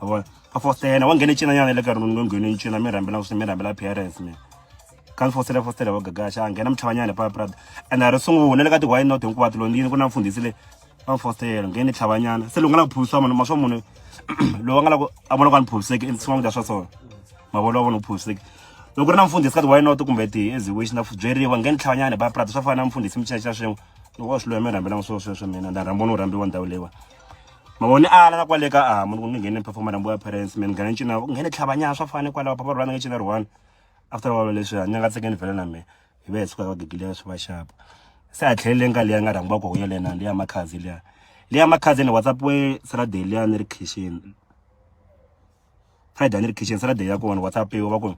wa vona va fostela wa nghene cina nyana le ka rona nghene ncina mi rhambela ku mi rhambela parents mi ka mi fostela fostela wa gagaxa a nghena mitlhava nyana papa prada and a ri sungula le ka ti why not hinkwato lo ndini ku na mfundhisi le va fostela nghene tlhava nyana se loko nga la ku phuvisiwa munhu ma swa munhu loyi va nga la ku a vona ku a ni phuviseki i swin'wana kudya swa swona mavona wa vona u phuviseki loko ri na mfundhisi ka ti why not kumbe ti as wish na byeriwa nghene tlhava nyana papa prada swa fana na mfundhisi mi cinca swin'we loko wa swi loya mi rhambela swo sweswo mina nda rhamba no rhambiwa ndhawu leyiwa mavoni ala na kwale ka amu ni ku ni nghene performer nambu ya parents mina nghene ncina u nghene tlhavanyana swa fane kwalaho papa rwana nge cina rwana after walo leswi a ni nga tsekeni vhela na mina hi ve hi suka ka gigile swi va xapa se a tlheleleni ka liya nga rhangiwa ku huya lena liya makhazi liya liya makhazi ni whatsapp we saturday liya ni ri khixini pride ni ri kitchen se na date ya kona whatsapp yo va ku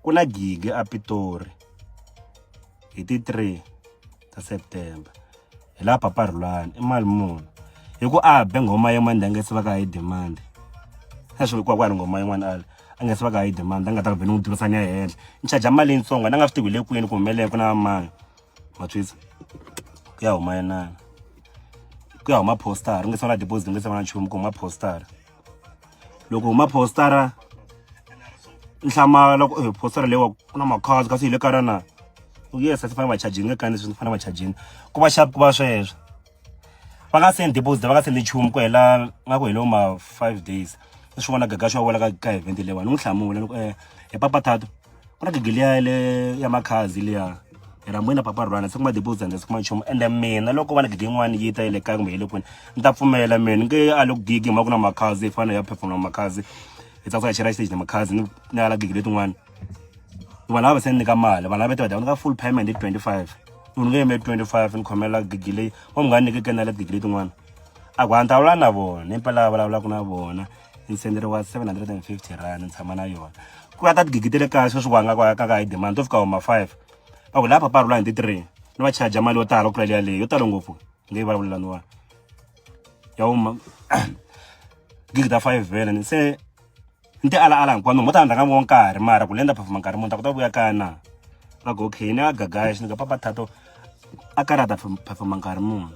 ku na gigi a pitori hi ti 3 ta september hi laha papa rhulani i mali muni hi ku a be nghoma yin'wana leyi a nga se va ka hi demand a swi vekiwa kwala nghoma yin'wana ala a nga se va ka hi demand a nga ta ku be ni n'wi durisa ni ya henhla ni charge mali yintsongo ni nga swi tivi le kwini ku humelele ku na mani matwisa ku ya huma yinana ku ya huma postara u nga se va na deposit u nga se va na nchumu ku huma postara loko huma postara nhlama loko eh, postara lewa ku na makhazi kasi hi le kara na yes a swi fanele va charginge kani swi fanele va charginge ku va xapu ku va sweswo va nga sendi deposit va nga sendi nchumu ku hela nga ku helo ma five days ni swi vona gaga swi va vona ka ka event lewa ni n'wi hlamula ni ku um hi papathato ku na gigi liya le ya makhazi liya hi ra moyina papa rhwana se ku ma deposit ndzi kuma nchumu ende mina loko va na gigi yin'wana yi ta yi le kaya kumbe yi le kwini ni ta pfumela mina nge a le ku gigi hi mhaka ku na makhazi yi fanele ya performa makhazi hi tsakisa hi chela stage na makhazi ni ni ala gigi letin'wana vanhu lava se ni nyika mali vanhu lava ti va dava ni ka full payment hi twenty five munhu nge yime twenty five ni khomela gigi leyi wa munghana ni nyikeke na le gigi letin'wana a ku hantalula na vona impela a vulavulaka na vona ni senderiwa 750 rand ni tshama na yona ku va ta tigigi te le kaya sweswi wanga ka ka ka hi demand to fika homa 5 va ku lapha parula hi ti 3 ni va charge mali yo tala ku tlula leya leyi yo tala ngopfu ngeyi vulavulelaniwa ya huma gigi ta 5 vele ni se ni ti ala ala hinkwanu mo ta handla ka ngo nkarhi mara ku lenda performa nkarhi munhu ta ku ta vuya kaya na va go okay ni a gagaya xi ni ka papa thato a karata performa nkarhi munhu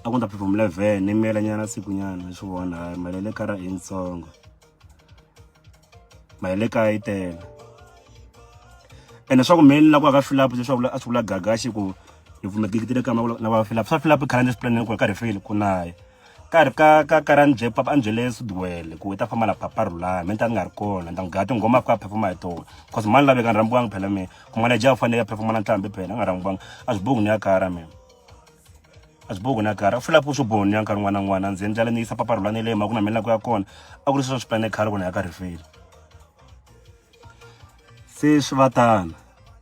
a ku ta phepha muleven ni miyela nyana siku nyana swi vona hayi mali ya le kara i yitsongo mali ya le kaya yi tele ene swa ku meni la ku aka filapu leswaku a swi vula gagaxi ku hi pfume gigitile kama na va filapu swa filapu khala ni swiplaneni ku ri karhi feli ku naye ka ri ka ka ka ra nje papa anjele sudwele ku ta famba la papa rula me ta nga ri kona ndang ga ti ngoma ka performa hi tona cause mani lave ka rambuwanga phela me ku mala ja fanele ya performa na ntlambi phela nga rambuwanga a swi bongi ni ya kara mina a swi bohi ku na karhi a swi lavi ku swi bohi ya nkarhi n'wana na n'wana ndzi endlela ni yisa papa rhula ni le ma ku na mina ku ya kona a ku ri sweswo swi plane khale ku na ya ka rifile se swi va tana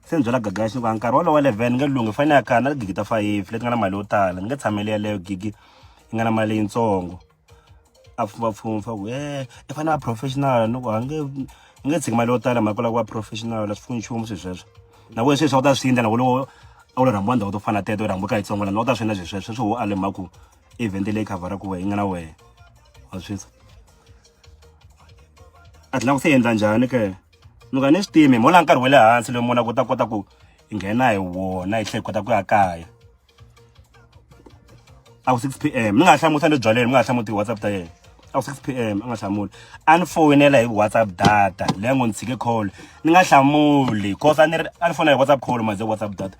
se ni byela gagaxi ni ku a nkarhi wolowo eleven ni nge lunghi fane ya kana gigi ta fayifi leti nga na mali yo tala ni nge tshameli yeleyo gigi yi nga na mali leyitsongo a pfumapfumfa ku e i fanele a professional ni ku a nge i nge tshiki mali yo tala mhaka lava ku va professional a swi pfuni nchumu swilo sweswo na ku sweswi a wu ta swi endla na ku loko a wu lo rhambiwa ndhawu to fana teto u rhambiwa ka yitsongo lana a wu ta swi endla swilo sweswo sweswi wo ale mhaka ku event leyi khavhara ku wehe yi nga na wehe wa swi tisa a tlhela ku se endla njhani ke ni ka ni swi timi hi mola nkarhi wa le hansi loyi mona ku ta kota ku hi nghena hi wona hi tlhe hi kota ku ya kaya a ku 6 pm mi nga hlamutsa le byaleni mi nga hlamutsa WhatsApp ta yena a ku 6 pm a nga hlamuli a ni foyinela hi WhatsApp data leyi ngo ni tshike call ni nga hlamuli cause a ni a ni fonela hi WhatsApp call maze WhatsApp data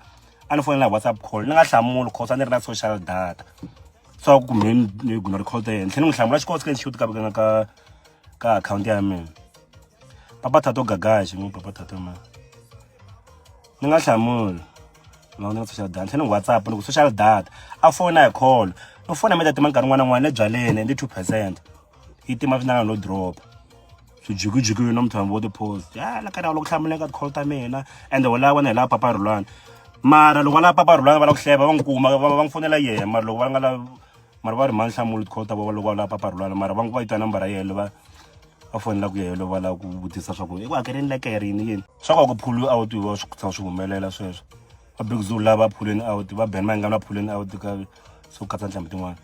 a ni fonela hi WhatsApp call ni nga hlamuli cause a ni ri na social data so ku me ni guna record ta yena tlhe ni n'wi hlamula xikosi ka shoot ka ka ka ka account ya mina papa thato gagaxi n'wi papa thato mani ni nga hlamuli ma ni nga social data tlhela ni whatsapp ni ku social data a fona hi call no fona mi ta tima nkarhi n'wana n'wana ebyaleni ndi two percent yi tima swinanga no drop swijukijuki no muthambi wo ti-post ya la ka loko hlamuleka ti-call ta mina ende wo lava wena hi lava papa rhulwana mara loko va lava papa rhulwana va lava ku hleva va n'wi kuma va n'wi fonela yena mara loko va nga lavi mara va ri mani hlamuli ti-call ta vona loko va lava papa rhulwana mara va n'wi va yi twa nambara yeleyo va va fonela ku yehelo va lava ku vutisa swa ku i ku hakerini lekere yini yini swa kona ku phulu a wu tiviwa swi tshama swi humelela sweswo va big zoo lava phuleni a wu ti va ben mayingani va phuleni a wu ti ka swo katsa ntlhambi tin'wana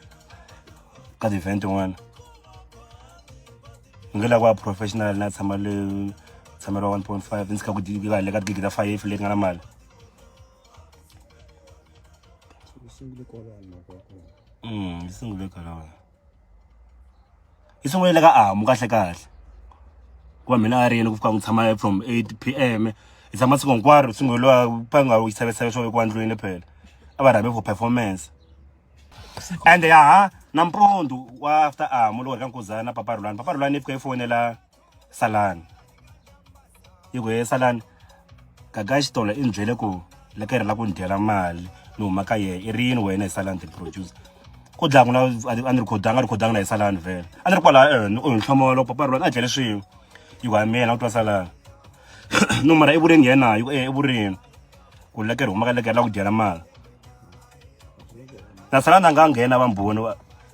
ka ti-event tin'wana ni nge lava ku va professional na tshama le tshameriwa one point five ni tshika ku va le ka tigigi ta five leti nga na mali mm yi sungule kwalaho i sungulele ka amu kahle kahle ku va mina a rini ku fika n'wi tshama from eight p_m hi tshama siku hinkwaro sunguriwa va nga wu xavisela swo vekiwa ndlwini phela a va rhambi for performance and yaha nampundzu wa after amu loko hi ka nkuzana papa rhulani papa rhulani i fika i fonela salani yi ku he salani gaga ya xitolo i ni byele ku le ka yena la ku ni dyela mali ni huma ka yena i ri yini wena hi salani ti-producer ku dlaya ku na a ni rikhodanga a rikhodanga na hi salani vhele a ni ri kwalaha ene u ni hlomolo loko papa rulani a dyele swin'we yi ku ha mina ku twa salani no mara i vurini yena yi ku e i vurini ku le ka ri huma ka le ka yena la ku dyela mali na salani a nga nghena va mboni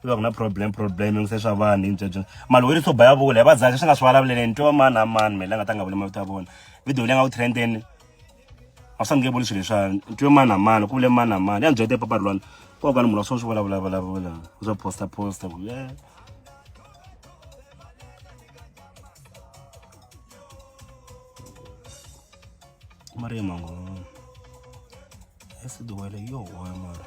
swi va ku na problem problem ngi se swa vanhu hintswa byona mali weri swo ba ya vula hi va dzaka swi nga swi vulavuleleni ntiwa mani a mani mele a nga ta nga vuli mavito ya vona video leyi nga ku trendeni a swi fanekele vuli swilo leswani ntiwe mani a mani ku vule mani a mani ya ni byete papa rulwana ko ka ni munhu wa swo swi vulavula vulavula u swo posta posta ku yeah. mari mango esiduwele yo hoya mara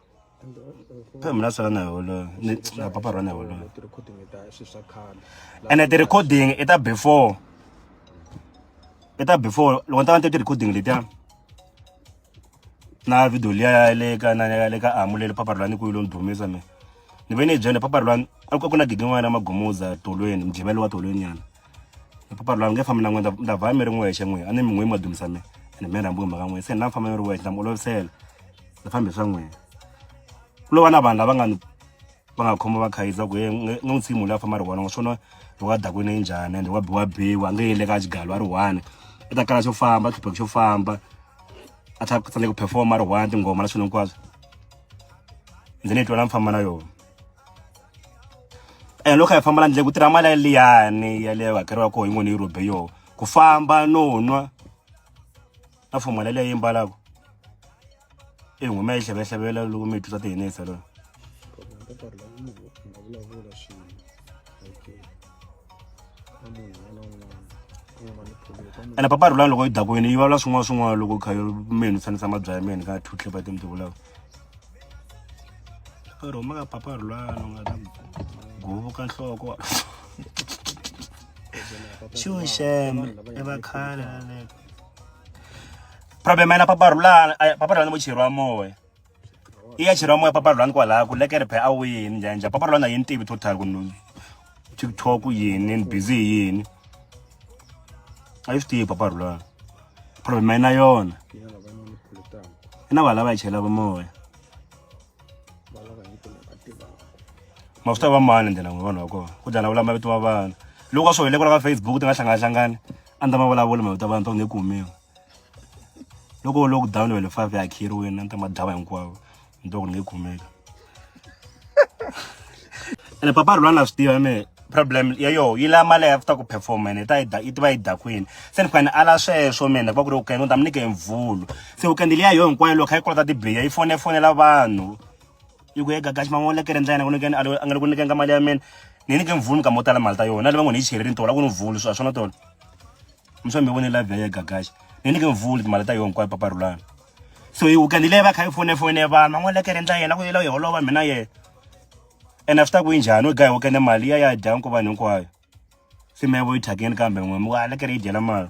mina swi rana hi wolowo ni na papa rana hi wolowo ene ti-recording i ta before i ta before loko ni ta va ni te ti-recording letiya na video liya ya le ka na ya le ka amu le le papa rulani ku yi lo ni dumisa mina ni ve ni yi byele papa rulani a ku na gigi n'wana ya magumuza tolweni mujivelo wa tolweni nyana papa lwa nge fambi na n'we nda va mi ri n'wexe n'we a ni mi n'we ma dumisa mi ene mi rhambi mhaka n'we se ni na famba mi ri wexe na mi olovisela ni fambi swa n'wina ku lo va na vanhu lava nga ni va nga khoma va khayiza ku ye ni n'wi tshiki munhu loyi a famba ri one ngo swona loko a dakwini yi njhani ende wa biwa biwa a nge yele ka xigalo a ri one i ta kala xo famba tlhupheko xo famba a tlha ku tsandzeka ku performa a ri one tinghoma na swilo hinkwaswo ndzi ni yi twa la mi famba na yona and loko hi famba la ndlela ku tirha mali liyani ya leyo hakeriwaka hi n'wini europe yo ku famba no nwa na fuma leyi yi mbalaka i nghuma yi hlavehlavelela loko mi twiswa tihinisa lona ene papa rulani loko yi dakwini yi vulavula swin'wana swin'wana loko kha mi hi nutsanisa mabya ya mina ka two clip ya timtivulaka ri huma ka papa ri lwana u nga ta guvuka nhloko xuxema i va khale laleka problem ayina papa rhulana papa rhulana vo cheriwa moya i ya cheriwa moya papa rhulana kwalaha ku lekere phe a wini njhani njhani papa rhulana a yi ni tivi total ku tiktok yini ni busy hi yini a yi swi tivi papa rhulana problem yi na yona i na valava yi chelaka moya ma swi ta va mani ndlela n'wi vanhu va kona ku dalavula mavito ma vana loko a swi hoyile kwala ka facebook ti nga hlanganahlangani a ni ta ma vulavula mavito ya vana ta ku ni kumiwa loko lockdown wele five ya akhiriwini na ni ta madlava hinkwavo ni twa ku ni nge khomeka ene papa ri lwana swi tiva me problem ya yo yi la mali after ku performa ene ta yi tiva yi dakwini se ni fane ala sweswo mina ku va ku ri weekend ni ta mi nyike mvulu se weekend leyi ya yo hinkwayo loko kha yi kolota tibiya yi fone fonela vanhu yi ku eka gaxi man'wana lekere ndlela yena ku nyikeni a nga le ku nyikeni ka mali ya mina ni nyike mvulu mi ka mo tala mali ta yona na lava ngo ni yi cherile ni tola ku ni mvulu swa swona tona mi swa mi vone live ya gagaxa ni ni nge vuli timali ta yona hinkwayo papa rulana so hi weekend leyi va kha yi fone fone vanhu van'wana le kereni ta yena ku yela yi holova mina yena and after ku yi njhani u gayi weekend mali ya ya dya nku vanhu hinkwayo se mi ya vo yi thyakeni kambe n'we mi wa le kere yi dyela mali